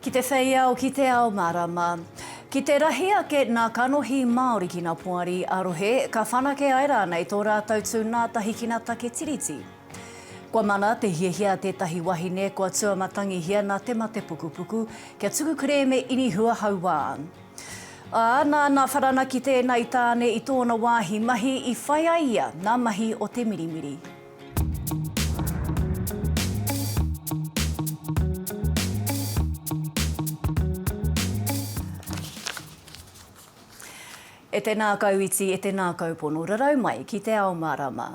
Ki te whei ao, ki te ao marama. Ki te rahi ake nā kanohi Māori ki nā poari ā-rohe, ka whanake ai rānei tō rātou tū nātahi ki nā take tiriti. Kua mana te hiahia a tētahi wahine kua tūamatangihia nā te mate pukupuku, kia tuku kerēme inihua hauā. Ā, nāna wharanaki tēnei tāne i tōna wāhi mahi i whai ai ia nā mahi o te mirimiri. E tēnā kau iti, e tēnā kau pono rarau mai ki te ao mārama.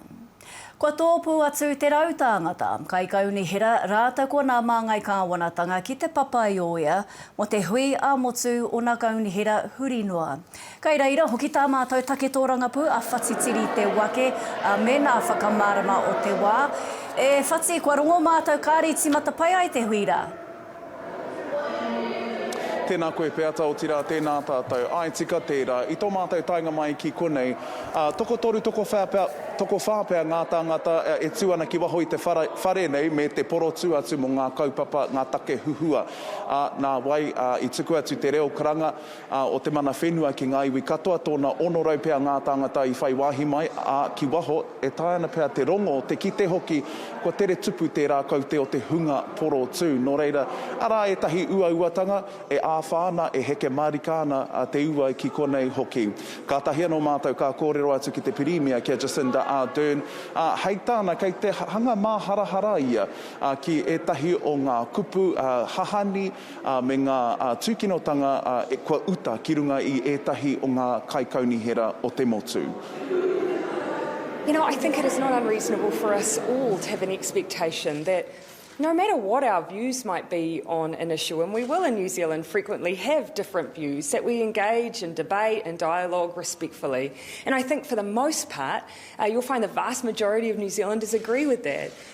Kua tōpū atu te rau tāngata, kaikaunihera rātou ko nā māngai kāwanatanga ki te papa i ōea mō te hui ā-motu o nā kaunihera huri noa. Kei reira hoki tā mātou take tōrangapū a Whati Tiri Te Wake me nā whakamārama o te wā. E Whati, kua rongo mātou kāre i tīmata pai ai te hui rā. Tēnā koe Peata, otirā tēnā tātou. Āe tika tērā. I tō mātou taenga mai ki konei, tokotoru, tokowhā pea, tokowhā pea ngā tāngata e tū ana ki waho i te whara, whare nei me te porotū atu mō ngā kaupapa, ngā take huhua. Ā, nā wai, ā, i tuku atu te reo karanga, ā, o te mana whenua ki ngā iwi katoa, tōna 600 pea ngā tāngata i whai wāhi mai, ā, ki waho, e taea ana pea te rongo, te kite hoki, kua tere tupu tērā kaute o te hunga porotū. Nō reira, arā ētahi uauatanga e āwha ana, e heke mārika ana te uai ki konei hoki. Kātahi anō mātou ka kōrero atu ki te Pirimia, ki a Jacinda Ardern, ā, hei tāna, kei te hanga māharahara ia ki ētahi o ngā kupu, ā, hahani, ā, me ngā tūkinotanga kua uta ki runga i ētahi o ngā kaikaunihera o te motu. You know, I think it is not unreasonable for us all to have an expectation that no matter what our views might be on an issue, and we will in New Zealand frequently have different views, that we engage in debate and dialogue respectfully. And I think for the most part, you'll find the vast majority of New Zealanders agree with that.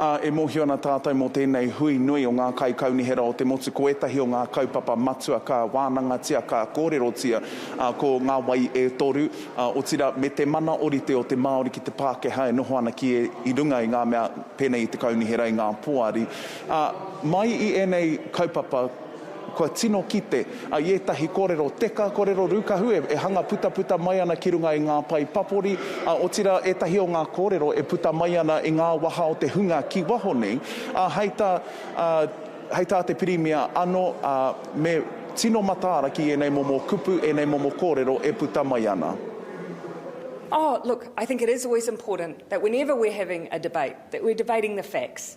Ā, e mōhio ana tātou mō tēnei hui nui o ngā Kaikaunihera o te motu ko ētahi o ngā kaupapa matua ka wānangatia, ka kōrerotia, ā, ko Ngā Wai e Toru, ā, otirā, me te mana orite o te Māori ki te Pākehā e noho ana ki e, i runga i ngā mea pēnei i te Kaunihera, i ngā Poari. Ā, mai i ēnei kaupapa, Kua tino kite i ētahi kōrero teka, kōrero rūkahu e hanga putaputa mai ana ki runga i ngā pae papori, ā, otirā ētahi o ngā kōrero e puta mai ana i ngā waha o te hunga ki waho nei, ā, hei tā, ā, hei tā te Pirimia anō, ā, me tino mataara ki ēnei momo kupu, ēnei momo kōrero e puta mai ana. Oh, look, I think it is always important that whenever we're having a debate, that we're debating the facts.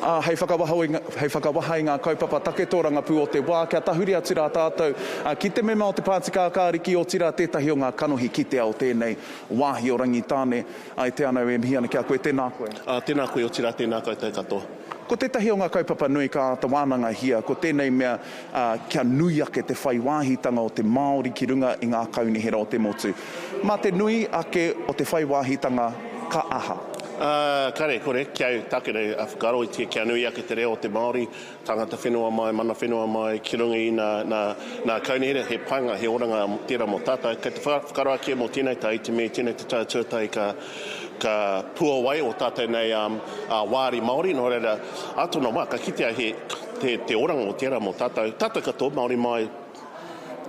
Ā, hei whakawaho i, hei whakawaha i ngā kaupapa take tōrangapū o te wā, kia tahuri atu rā tātou ki te mema o te Pāti Kākāriki, otirā tētahi o ngā kanohi kitea o tēnei wāhi o Rangitāne. I te anau, e mihi ana ki a koe, tēnā koe. Ā, tēnā koe, otirā tēnā koutou katoa. Ko tētahi o ngā kaupapa nui ka āta wānangahia, ko tēnei mea, ā, kia nui ake te whai wāhitanga o te Māori ki runga i ngā kaunihera o te motu. Mā te nui ake o te whai wāhitanga ka aha? Ā, kāre, kore, kia takere, ā, whakaaroitia kia nui ake te reo o te Māori, tāngata whenua mai, mana whenua mai, ki runga i nā, nā, nā kaunihera, he painga, he oranga tērā mō tātou. Kei te whaka, whakaroakia mō tēnei tau, i te mea i tēnei te tau tuatahi ka, ka puawai ō tātou nei, ā, ā, wāri Māori, nō reira, ā tōna wā, ka kitea he, Te, te oranga o tērā mō tātou, tātou katoa, Māori mai,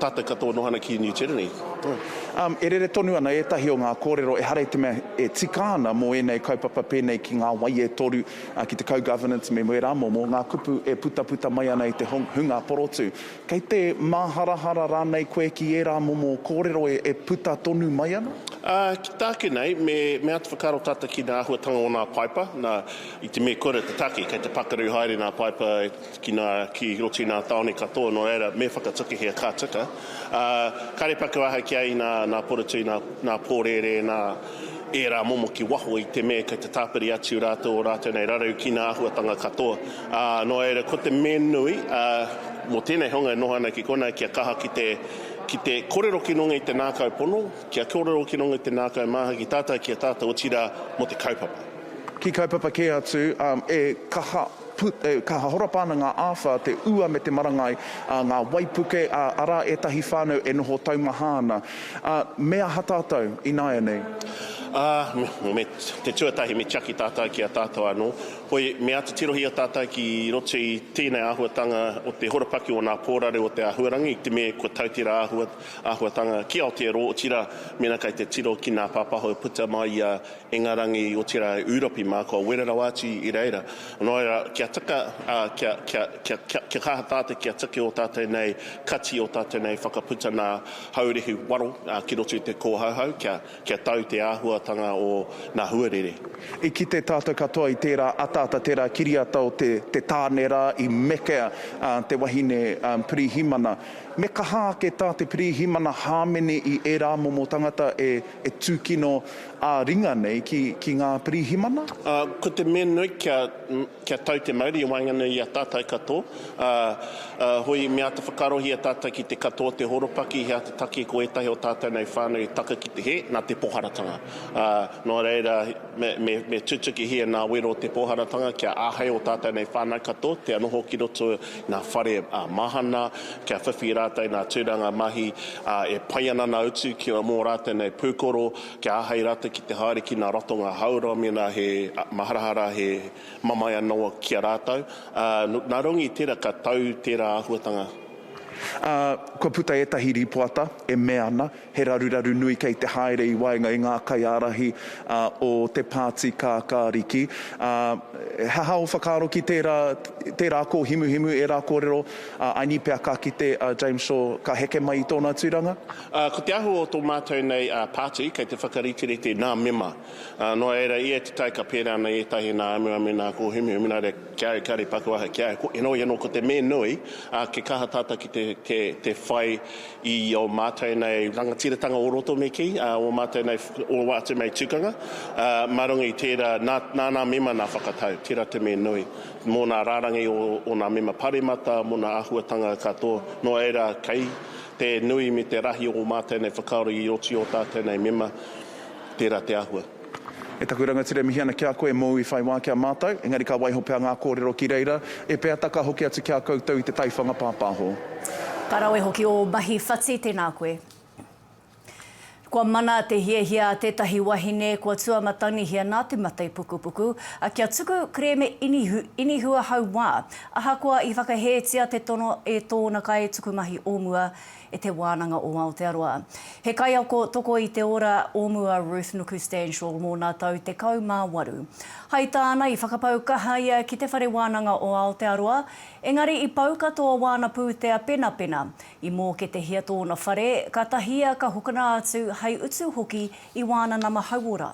tātou katoa noho ana ki New Tyranny. Oi. Um, e rere tonu ana ētahi o ngā kōrero ehara i te mea e tika ana mō ēnei kaupapa pēnei ki ngā wai e toru, uh, ki te co-governance me wērā momo, ngā kupu e putaputa mai ana i te hong, hunga porotū. Kei te māharahara rānei koe ki ērā momo kōrero e, e puta tonu mai ana? Uh, ki tāku nei, me, me āta whakaaro tātou ki ngā āhuatanga o nā paipa, nā, I te mea kore te take, kei te pakaru haere nā Paepa ki nā, ki roto i nā tāone katoa, nō reira, me whakatukuhia ka tika. Ā, kāre paku aha ki a i nā, nā Porotui, nā, nā Pōrērē, nā ērā momo ki waho i te mea kei te tāpiri atu rātou ō rātou nei raru ki nā āhuatanga katoa. Ā, nō reira, ko te mea nui, ā, mō tēnei honga e noho ana ki konā kia kaha ki te, ki te korero ki runga i te nākau pono, kia korero ki runga i te nākau māhaki tātai ki a tātou, otirā, mō te kaupapa. Ki kaupapa kē atu, e kaha put, e kaha horapa ana ngā āwha, te ua me te marangai, ngā waipuke, arā ētahi whānau e noho taumaha ana. Me aha tātou ināianei? Ā, me te tuatahi me tiaki tātou ki a tātou anō. Hoi, me āta tirohia tātou ki roto i tēnei āhuatanga o te horopaki o ngā kōrare o te āhuarangi, te me kua tau tērā āhuatanga ki Aotearoa, otirā, mēnā kei te tiro ki ngā pāpaho e puta mai i a Ingarangi, otirā e Ūropi mā, kua wera rawa atu i reira. Nō reira, kia taka, ā, kia, kia, kia, kia, kia kaha tātou kia tuki ō tātou nei kati, ō tātou nei whakaputa nā Haurehu waro ki roto i te kōhauhau, kia, kia tau te āhuatanga o nā huarere. I kite tātou katoa i tērā ataata, tērā kiriata o te, te tāne rā, i mekea, ā, te wahine, ā, pirīhimana. Me kaha ake tā te pirīhimana hāmene i ērā momo tangata e, e tūkino, ā-ringa nei ki, ki ngā pirihimana? Ā, ko te mea nui kia, kia tau te mauri i waenganui i a tātou katoa, ā, ā, hoi me āta whakaarohia tātou ki te katoa o te horopaki, he āta taki ko ētahi o tātou nei whānau i taka ki te hē, nā te poharatanga. Ā, nō reira, me, me, me tutukihia nā wero o te poharatanga kia āhei ō tātou nei whānau katoa kia noho ki roto ngā whare mahana, kia whiwhi rātou i ngā tūranga mahi e pai ana nā utu ki mō rātou nei pūkoro, kia āhei rātou ki te haere ki ngā ratonga hauora mēnā he maharahara, he mamae anō ki a rātou. Nā runga i tērā ka tau tērā āhuatanga. Kua puta ētahi rīpoata e mea ana He raruraru nui kei te haere i waenga i ngā kaiārahi o te Pāti Kākāriki. He aha ō whakaaro ki tērā, tērā kōhimuhimu, ērā kōrero a Aini pea ka kite a James Shaw ka heke mai i tōna tūranga? Ko te ahu o tō mātou nei pāti, kei te whakariterite nā mema. Noa ērā, i ēta tai ka pērā nei ētahi nā amuamu, nā kōhimuhimu, nā reira ki au, kia rīpaku aha ki au, heoi anō ko te me nui, kia kaha tata ki te whai i ō mātou nei rangatiratanga o roto me kī, ā, ō mātou nei, o ātou nei tukanga, ā, mā runga i tērā, nā, nā nā mema nā whakatau, tērā te me nui, mō nā rārangi o, o nā mema paremata, mō nā āhuatanga katoa, nō reira, kei te nui me te rahi o ō mātou nei whakaaro i oti ō tātou nei mema, tērā te āhua. E taku rangatira e mihi ana ki a koe mōu i whai wā ki a mātou, engari ka waiho pea ngā kōrero ki reira, e peata ka hoki atu ki a koutou i te taiwhanga pāpāho. Ka rawe hoki ō mahi whati, tēnā koe. Kua mana te hiahia a tētahi wahine kua tuamatanihia nā te mate pukupuku, kia tuku kerēme inihu, inihua hauā, ahakoa i whakahētia te tono e tōna kaitukumahi o mua, e Te Wānanga o Aotearoa. He kaiako toko i te ora o mua Ruth Nuku-Stanshaw mōna tau 18. Hai tāna i whakapau kaha ia ki Te Whare Wānanga o Aotearoa, engari i pau katoa wāna pūtea penapena. I mōketehia tōna whare, ka tahia ka hokona atu hai utu hoki i wāna nama hauora.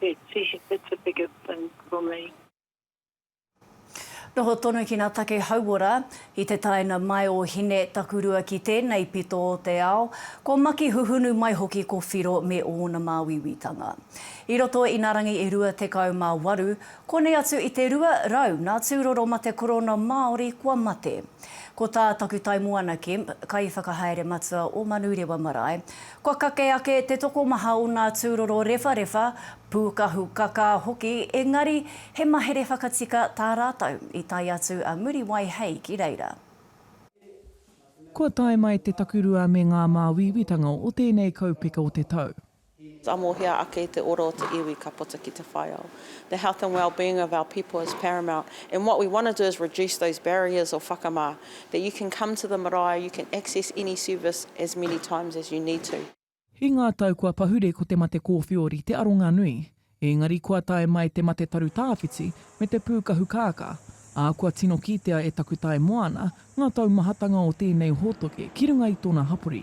It's a it's a bigger thing for me. Noho tonu ki nga take hauora, i te taina mai o Hine Takurua ki tenei pito o te ao, ko Maki Huhunu mai hoki ko Whiro me ona māuiuitanga. I roto i na rangi e rua tekau ma waru, konei atu i te rua rau na turoro ma te korona Maori kua mate. Ko ta Takutaimoana Kemp, kaiwhakahaere matua o Manurewa Marae, Kua kake ake te tokomaha o ngā tūroro rewharewha, pūkahu kakā hoki, engari he mahere whakatika tā rātou, i tae atu a Muriwai Hei ki reira. Kua tae mai te takurua me ngā māuiuitanga o tēnei kaupeka o te tau. Tamohia ake te ora o te iwi ka puta ki te whaiao. The health and well-being of our people is paramount and what we want to do is reduce those barriers or whakamā. That you can come to the marae, you can access any service as many times as you need to. I ngā tau kua pahure ko te mate kōwhiori te aronga nui. Ēngari kua tae mai te mate taru tāwhiti me te pūkahu kākā, ā, kua tino kitea e Takutae Moana ngā taumahatanga o tēnei hōtoke ki runga i tōna hapori.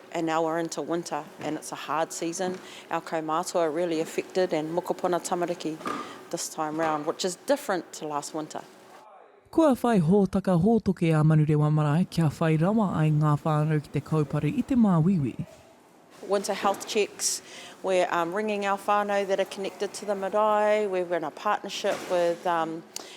and now we're into winter and it's a hard season, our kaumātua are really affected and mokopuna tamariki this time round, which is different to last winter. Kua whai hōtaka hōtoke a Manurewa Marae kia whai rawa ai ngā whānau ki te kaupare i te māuiui. Winter health checks, we're ringing our whānau that are connected to the marae, we're in a partnership with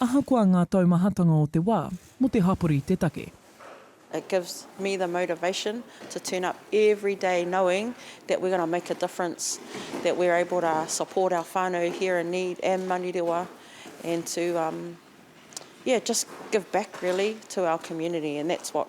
Ahakoa ngā taumahatanga o te wā, mō te hapori te take. It gives me the motivation to turn up every day knowing that we're going to make a difference, that we're able to support our whānau here in need and Manurewa and to, yeah, just give back really to our community and that's what.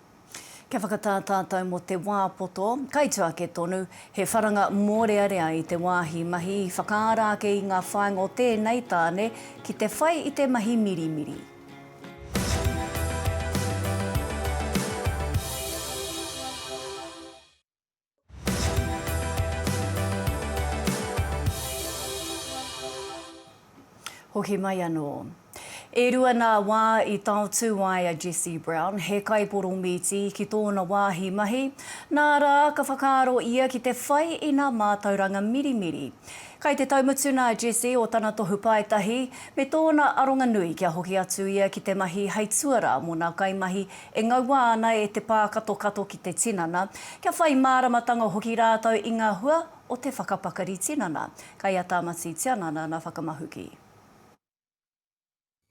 Kia whakatā tātou mō te wā poto, kaitū ake tonu, he wharanga mōrearea i te wāhi mahi, whakaara ake i ngā whāinga o tēnei tāne ki te whai i te mahi mirimiri. Hoki mai anō. E rua nā wā i taotū ai a Jesse Brown, he kaiporomīti, ki tōna wāhi mahi, nā rā, ka whakaaro ia ki te whai i nā mātauranga mirimiri. Kai te taumatuna a Jesse o tana tohu paetahi, me tōna aronganui kia hoki atu ia ki te mahi hei tuara mō nā kaimahi E ngaua ana e te pākatokato ki te tinana, kia whai māramatanga hoki rātou i ngā hua o te whakapakari tinana. Kei a Tāmati Tianana nā Whakamahuki.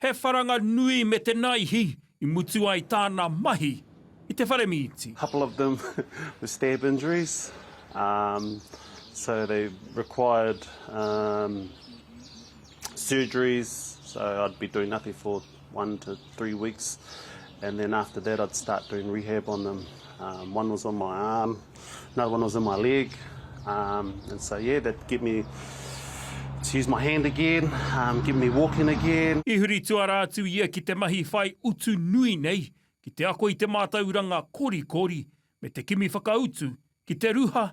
He wharanga nui me te naihi i mutu ai tāna mahi i te whare mīti. Couple of them were stab injuries so they required surgeries so I'd be doing nothing for one to three weeks and then after that I'd start doing rehab on them um, one was on my arm another one was in my leg um, and so yeah that get me to use my hand again um, get me walking again I huri tuara atu ia ki te mahi whai utu nui nei ki te ako i te mātauranga kori kori me te kimi whakautu ki te ruha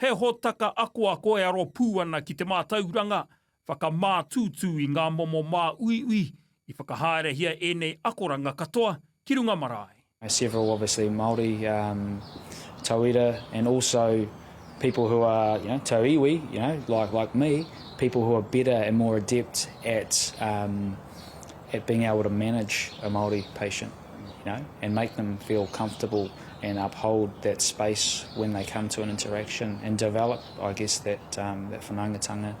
He hōtaka akoako e aro pū ana ki te mātauranga whakamātūtū i ngā momo māuiui i whakahaerehia ēnei akoranga katoa ki runga marae. several obviously Māori um tauira and also people who are you know tau iwi you know like like me people who are better and more adept at um at being able to manage a Māori patient. you know, and make them feel comfortable and uphold that space when they come to an interaction and develop, I guess, that um, that whanaungatanga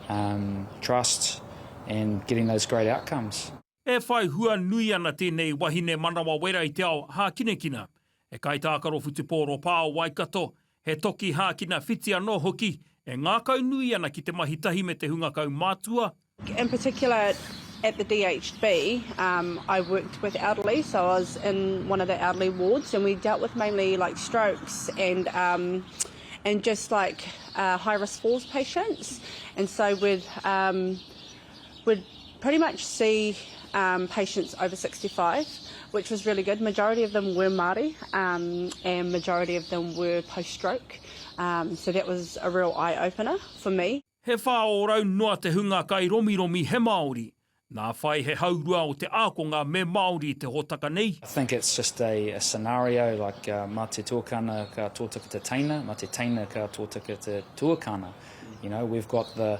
um, trust and getting those great outcomes. E whai hua nui ana tēnei wahine manawa wera i te ao hākinakina. He kaitākaro whutupōro pā o Waikato, he toki hākina whiti anō hoki, e ngākaunui ana ki te mahi tahi me te hunga kaumātua, In particular at the DHB I worked with elderly so I was in one of the elderly wards and we dealt with mainly like strokes and and just like high risk falls patients and so with would pretty much see um, patients over 65, which was really good. Majority of them were Māori um, and majority of them were post-stroke. Um, so that was a real eye-opener for me. He whā ōrau noa te hunga kai romiromi he Māori. Nā whai he haurua o te ākonga me Māori te hōtaka nei. I think it's just a, a scenario like uh, mā te tuakana ka tōtaka te teina, mā te teina ka tōtaka te tuakana. You know, we've got the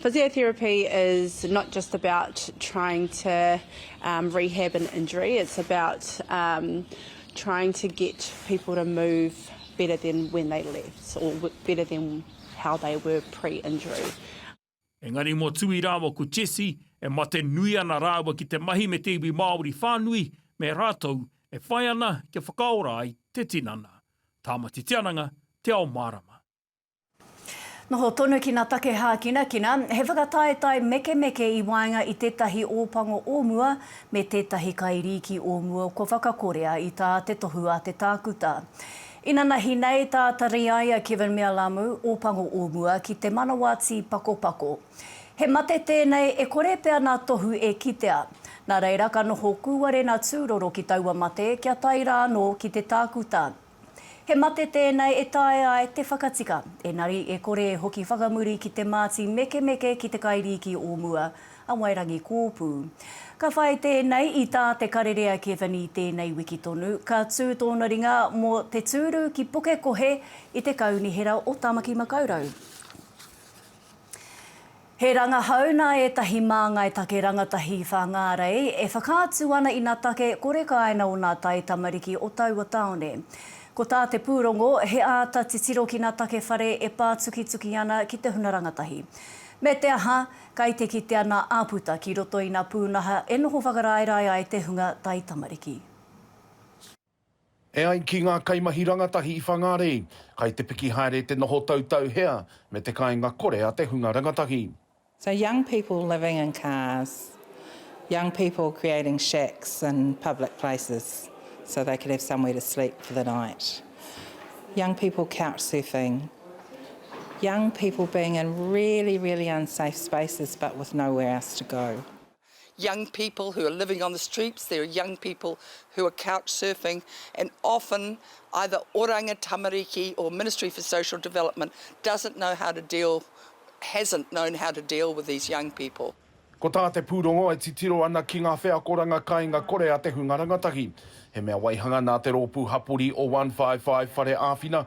Physiotherapy is not just about trying to um, rehab an injury, it's about um, trying to get people to move better than when they left or better than how they were pre-injury. Engari mō Tui rāua ko Jessie, e mate nui ana rāua ki te mahi me te iwi Māori whānui, me rātou e whai ana kia whakaora ai te tinana. Tāmati Te Ananga, Te Ao Mārama. Noho tonu ki na take hākinakina, he whakataetae mekemeke i waenga i tētahi ōpango o mua me tētahi kairīki o mua kua whakakorea i tā te tohu a te tākuta. Inanahi nei tā Tariaia Kevin Mealamu, ōpango o mua ki te manawatī pakopako. He mate tēnei e kore pea nā tohu e kitea. Nā reira ka noho kūwarena tūroro ki taua mate kia tae rānō ki te tākuta. He mate tēnei e taea ai te whakatika, engari e kore e hoki whakamuri ki te māti mekemeke ki te kairīki o mua, a Wairangi Kōpū. Ka whai tēnei i tā Te Karere a Kevin i tēnei wiki tonu, ka tū tōna ringa mō te tūru ki Pukekohe i te Kaunihera o Tāmaki Makaurau. He rangahau nā ētahi māngai take rangatahi Whāngārei e whakaatu ana i nā take kore kāina o nā taitamariki o taua tāone. Ko tā te pūrongo, he āta titiro ki nā take whare e pātukituki ana ki te huna rangatahi. Me te aha, kai te kitea nā āputa ki roto i nā pūnaha e noho whakaraerae ai te hunga taitamariki. E ai ki ngā kaimahi rangatahi i Whangārei, kai te piki haere te noho tautau hea me te kāinga kore a te hunga rangatahi. So young people living in cars, young people creating shacks in public places so they could have somewhere to sleep for the night, young people couch surfing, young people being in really, really unsafe spaces but with nowhere else to go. young people who are living on the streets, there are young people who are couch surfing and often either oranga tamariki or Ministry for Social Development doesn't know how to deal, hasn't known how to deal with these young people. Ko tā te pūrongo e titiro ana ki ngā wheakoranga kāinga kore a te hunga rangatahi. He mea waihanga nā te rōpū hapori o 155 Whare Āwhina,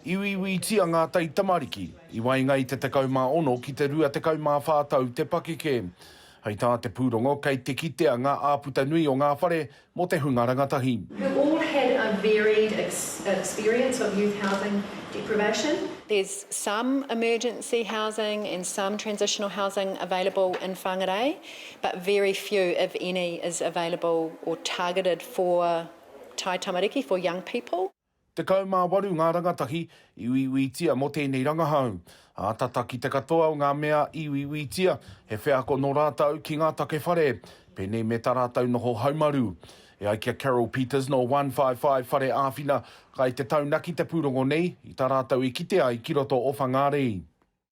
I uiuitia ngā taitamariki i waenga i te 16 ki te 24 tau te pakeke. Hei tā te pūrongo kei te kitea ngā āputa nui o ngā whare mō te hunga rangatahi. who all had a varied experience of youth housing deprivation. There's some emergency housing and some transitional housing available in Whangarei, but very few, if any, is available or targeted for taitamariki, for young people. Tekau mā waru ngā rangatahi i uiuitia mō tēnei rangahau. Ātata ki te katoa o ngā mea i uiuitia, he wheako nō rātou ki ngā take whare, pēnei me tā rātou noho haumaru. E ai ki a Carol Peters nō One-five-five Whare Āwhina, kai te taunaki te pūrongo nei i tā rātou i kite ai ki roto o Whangārei.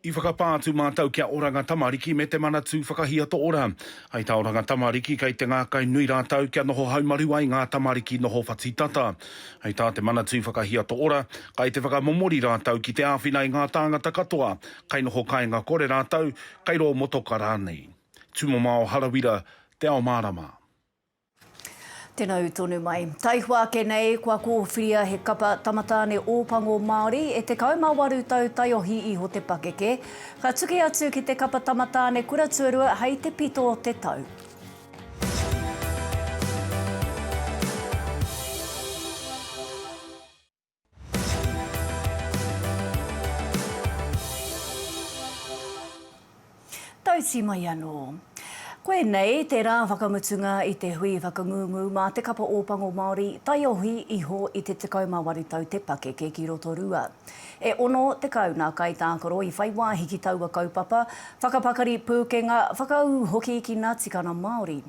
I whakapā atu mātou ki a Oranga Tamariki me te Manatū Whakahiato Ora. Hei tā Oranga Tamariki, kei te ngākai nui rātou kia noho haumaru ai ngā tamariki noho whati tata. Hei tā te Manatū Whakahiato Ora, kai te whakamomori rātou ki te āwhina i ngā tāngata katoa, kai noho kāinga kore rātou, kai rō motoka rānei. Tumamao Harawira, Te Ao Mārama. Tena ū tonu mai. Taihoa ake nei, kua kōwhiria he kapa Tamatāne Ōpango Māori e 18 tau taiohi iho te pakeke, ka tuki atu ki te kapa Tamatāne Kura Tuarua hei te pito o te tau. Tauti mai anō. Koinei te rā whakamutunga i te hui whakangungu mā te Kapa Ōpango Māori taiohi iho i te 18 tau te pakeke ki Rotorua. E 60 ngā kaitākaro i whai wāhi ki taua kaupapa, whakapakari pūkenga, whakaū hoki ki ngā tikanga Māori.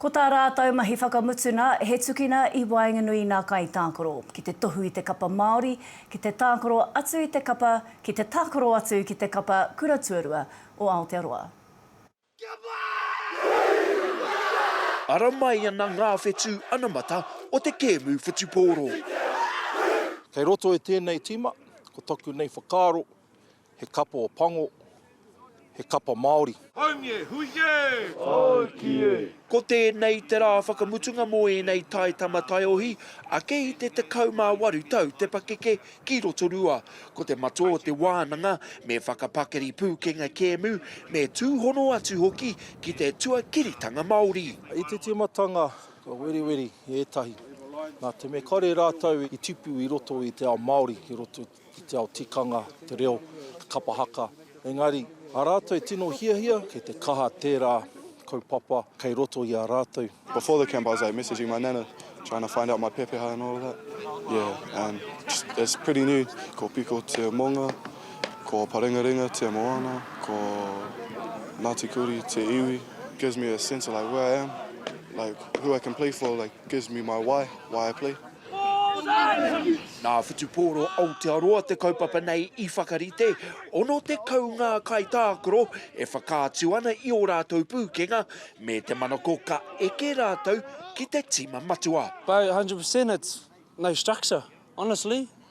Ko tā rātou mahi whakamutuna, he tukina i waenganui nā kaitākaro ki te tohu i te kapa Māori, ki te tākaro atu i te kapa, ki te tākaro atu ki te kapa Kura Tuarua o Aotearoa. Ara mai ana ngā whetū anamata o te kēmu whutupōro. Kei roto i tēnei tīma, ko taku nei whakaaro, He kapa o pango, he kapa Māori. Haumi e, hui e! Tāiki e! Ko tēnei te rā whakamutunga mō ēnei taitama taiohi ake i te 18 tau te pakeke ki Rotorua. Ko te matua o te wānanga me whakapakari pūkenga kēmu, me tūhono atu hoki ki te tuakiritanga Māori. I te tīmatanga ka weriweri ētahi nā te mea kāore rātou i tipu i roto i te ao Māori ki roto i. ki te ao tikanga, te reo, te kapa haka, engari, a rātou e tino hiahia, kei te kaha tērā kaupapa kei roto i a rātou. Before the camp I was like messaging my nana trying to find out my pepeha and all of that, yeah, and just, it's pretty new, ko Piko te monga, ko Parengarenga te moana, ko Ngāti Kuri te iwi, gives me a sense of like where I am, like who I can play for, like gives me my why, why I play. Nā Whutupōro Aotearoa te kaupapa nei i whakarite, 60 ngā kaitākaro e whakaatu ana i ō rātou pūkenga, me te manako ka eke rātou ki te tīma matua. By 100% it's no structure, honestly.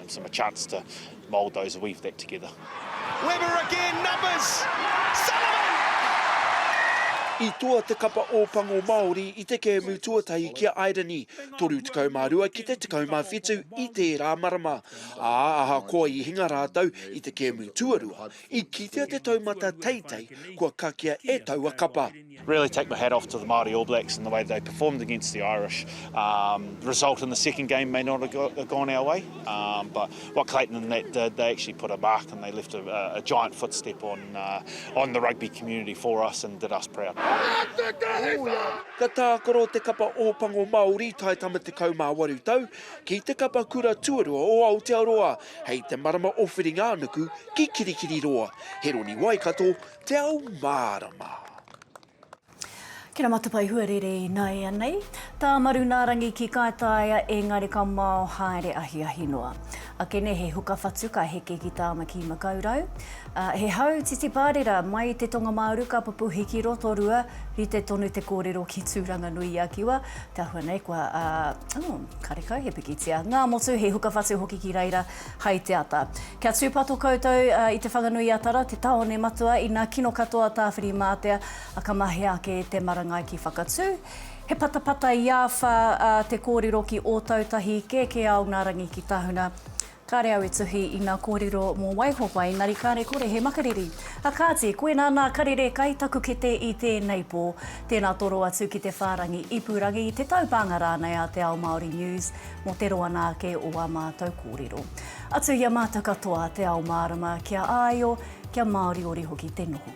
Gives him a chance to mould those and weave that together. Webber again, numbers! Sullivan! I toa te Kapa Ōpango Māori i te kēmu tuatahi ki a Iereni, 32 ki te 17 i tērā marama, ā, ahakoa i hinga rātou i te kēmu tuarua, i kitea te taumata teitei kua kakea e taua kapa. Really take my hat off to the Māori All Blacks and the way they performed against the Irish. Um, the result in the second game may not have gone our way, um, but what Clayton and that did, they actually put a mark and they left a, a giant footstep on, uh, on the rugby community for us and did us proud. Ka tākaro te kapa Ōpango Māori tae tama te kaumā waru tau ki te kapa kura tuarua o Aotearoa hei te marama o Whiringa-ā-nuku ki Kirikiriroa. He roni Waikato, Te ao mārama. Ki na Matapae Huarere inaianei. Ta Marunaarangi ki Kaitaia engari ka mao haere ahiahi noa. Akene he huka whatu ka heke ki Tamaki Makaurau. He hau titiparera mai i te Tongamaaru ka pupuhi ki Rotorua rite tonu te korero ki Turanganui-i-a-Kiwa te ahua nei kua karekau he pikitia. Ngamotu he huka whatu hoki ki reira hai te ata. Kia tūpato koutou i Te Whanganui-a-Tara, te tāone matua ina kino katoa Tāwhirimātea, ka mahea ake te marangai ki Whakatū. He patapata i āwha te kōrero ki Ōtautahi, kē kē ao ngā rangi ki Tahuna. Kāre au e tuhi i ngā kōrero mō Waihopa, engari kāre kore he makariri. Kāti, koinā nā Karere kai taku kete i tēnei pō. Tēnā toro atu ki te whārangi ipurangi, te taupānga rānei a Te Ao Māori News. mō te roa nā ake o ā mātou kōrero. Atu i a mātou katoa, te ao mārama, kia āio, kia māoriori hoki te noho.